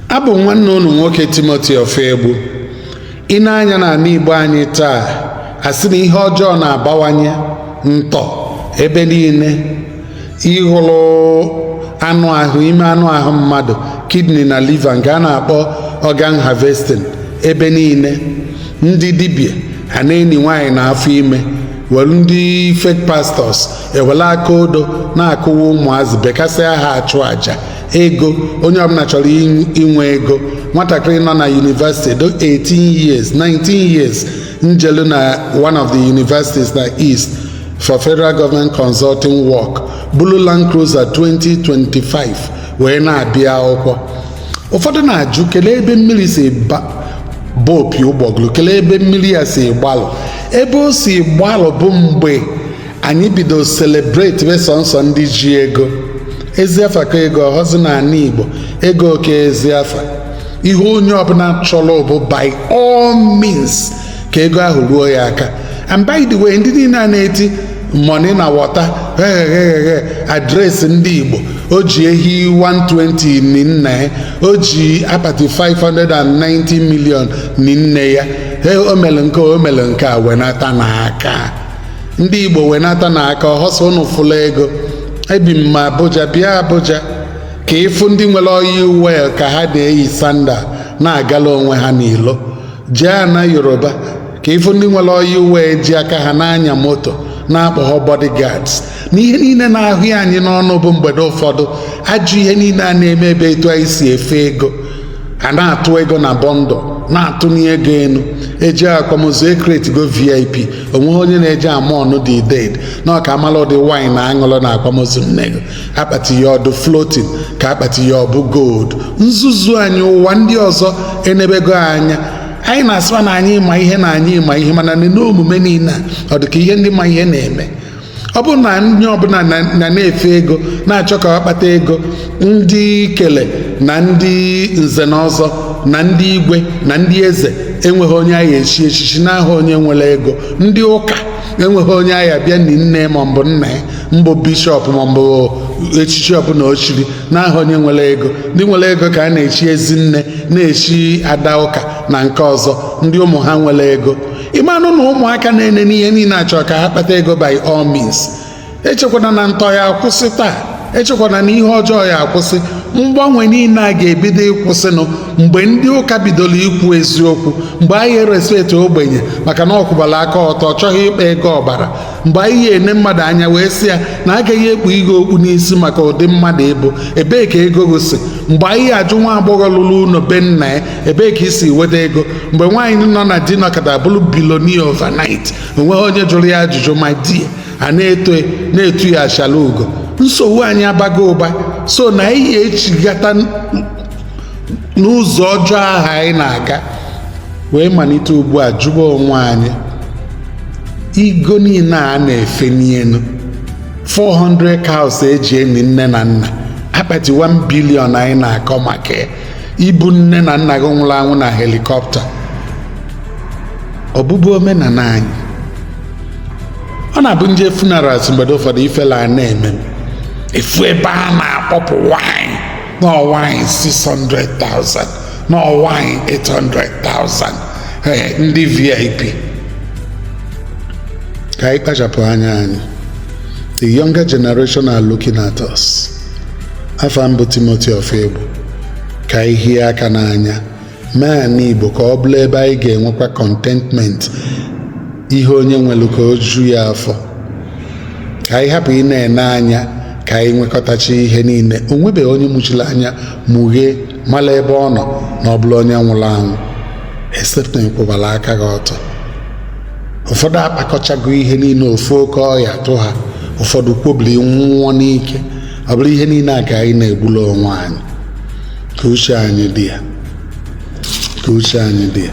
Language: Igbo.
abụ m nwanne unu nwoke timoti ofegbu i nee anya n'ala igbo anyị taa asị na ihe ọjọọ na-abawanye ntọ ebe niile ịhụrụ anụ ahụ ime anụ ahụ mmadụ kidney na liver nke a na-akpọ organ harvesting ebe niile ndị dibịa a na-eni nwaanyị na afọ ime were ndị fake pastors ewere aka odo na-akụwa ụmụazị bekasịa ha achụ aja ego onye ọbụla chọrọ inwe ego nwatakịrị nọ na yunivesiti do 18 years 19 years njelu na one of the universities na east for federal government consulting work bulu land cruiser 2025 wee na-abịa akwụkwọ ụfọdụ na-ajụ kelee ebe mmiri si baba opi ụgbọgụrụ kelee ebe mmiri ya si gbalụ ebe o si gbalụ bụ mgbe anyị bido selebretibe sọnsọ ndị ji ego ezi afa ka ego ọhọzi na ala igbo ego ka ezi afa ihe onye ọbụla chọrọ bụ by all means ka ego ahụ ruo ya aka and by the way ndị niile a na-eti money na water hehehehe adreesị ndị igbo o ji ehi 120 ni nne ya o ji apati 590 million ni nne ya o mere nke o mere nke a wenatanụ aka ndị igbo wenatanụ aka ọhọ sọ unu fụla ego ebi m na abuja bịa abuja ka ịfụ ndị nwere oil well ka ha na-eyi sandal na-agala onwe ha n'ilo jee ana yoruba ka ịfụ ndị nwere oil well ji aka ha na-anya moto na-akpọghọ bodyguards na ihe niile na-ahụ ya anyị n'ọnụ bụ mgbede ụfọdụ ajụ ihe niile a na-eme ebe etu anyị si efe ego a na-atụ ego na bundle na-atụni ego enu eji akwamozu ekretigo vip onweghị onye na-eje amourn the dead na ọ ka amala ụdị wine aṅụlụ na akwamozu nnego akpati ya ọ dụ floating ka akpati ya ọbụ gold nzuzu anyị ụwa ndị ọzọ enebego anya anyị na-asịwa na anyị ma ihe na anyị ma ihe mana neene omume niile a ọ dị ka ihe ndị ma ihe na-eme ọ bụrụ na onye ọbụla na na- na-efe ego na-achọ ka ọ kpata ego ndị ikele na ndị nze na ọzọ na ndị igwe na ndị eze enweghị onye a ga-echi echichi n'aha onye nwere ego ndị ụka enweghị onye a ga-abịa ni nne ma mbụ nna ya mbụ bishọp ma mbụ echichi ọbụla o chiri n'aha onye nwere ego ndị nwere ego ka a na-echi ezi nne na-echi ada ụka na nke ọzọ ndị ụmụ ha nwere ego ị manụ na ụmụaka na-enene ihe niile a chọọ ka ha kpata ego by all means echekwana na ntọ ya-akwụsị taa echekwana na ihe ọjọọ ya-akwụsị mgbanwe niile a ga-ebido ịkwụsịnụ mgbe ndị ụka bidoro ikwu eziokwu mgbe anyị ya-erespect ogbenye maka na ọ kwụbala aka ọtọ ọ chọghị ịkpa ego ọbara mgbe anyị ya-ene mmadụ anya wee sị ya na a gaghị ekpu gị okpu n'isi maka ụdị mmadụ ị bụ ebee ka ego gị si mgbe anyị ya-ajụ nwa agbọghọ rụrụ ụlọ be nna ya ebee ka i si weta ego mgbe nwaanyị nọ na di nọkata bụrụ billionaire overnight onweghị onye jụrụ ya ajụjụ ma di ya na-eto na-etu ya achala ugo nsogbu anyị abago ụba sọ na anyị ya-echigata n'ụzọ ọjọọ ahụ anyị na-aga wee malite ugbu a jụba onwe anyị ego niile a na-efe n'elu 400 cows e ji eni nne na nna akpati 1 billion anyị na-akọ maka ya ibu nne na nna gị nwụrụ anwụ na helikọpta ọ bụbu omenala anyị ọ na-abụ m jee funerals mgbede ụfọdụ ifele ana-eme m ịfụ ebe a na-akpọpụ wine na wine 600,000 na wine 800,000 ee ndị vip ka anyị kpachapụ anya anyị the younger generation are looking at us afa m bụ Timothy Ofegbu ka anyị hie aka n'anya mee ana Igbo ka ọ bụla ebe anyị ga-enwekwa contentment ihe onye nwere ka o ju ya afọ ka anyị hapụ ịna-ene anya ka anyị nwekọtacha ihe niile o nwebeghị onye mụchiri anya mụghee mala ebe ọ nọ na ọ bụla onye nwụrụ anwụ except na ị kwụbara aka gị ọtọ ụfọdụ akpakọchago ihe niile ofu oke ọya tụ ha ụfọdụ kwobiri nwụọ n'ike ọ bụrụ ihe niile a ka anyị na-egbula onwe anyị ka uche anyị dị ya ka uche anyị dị ya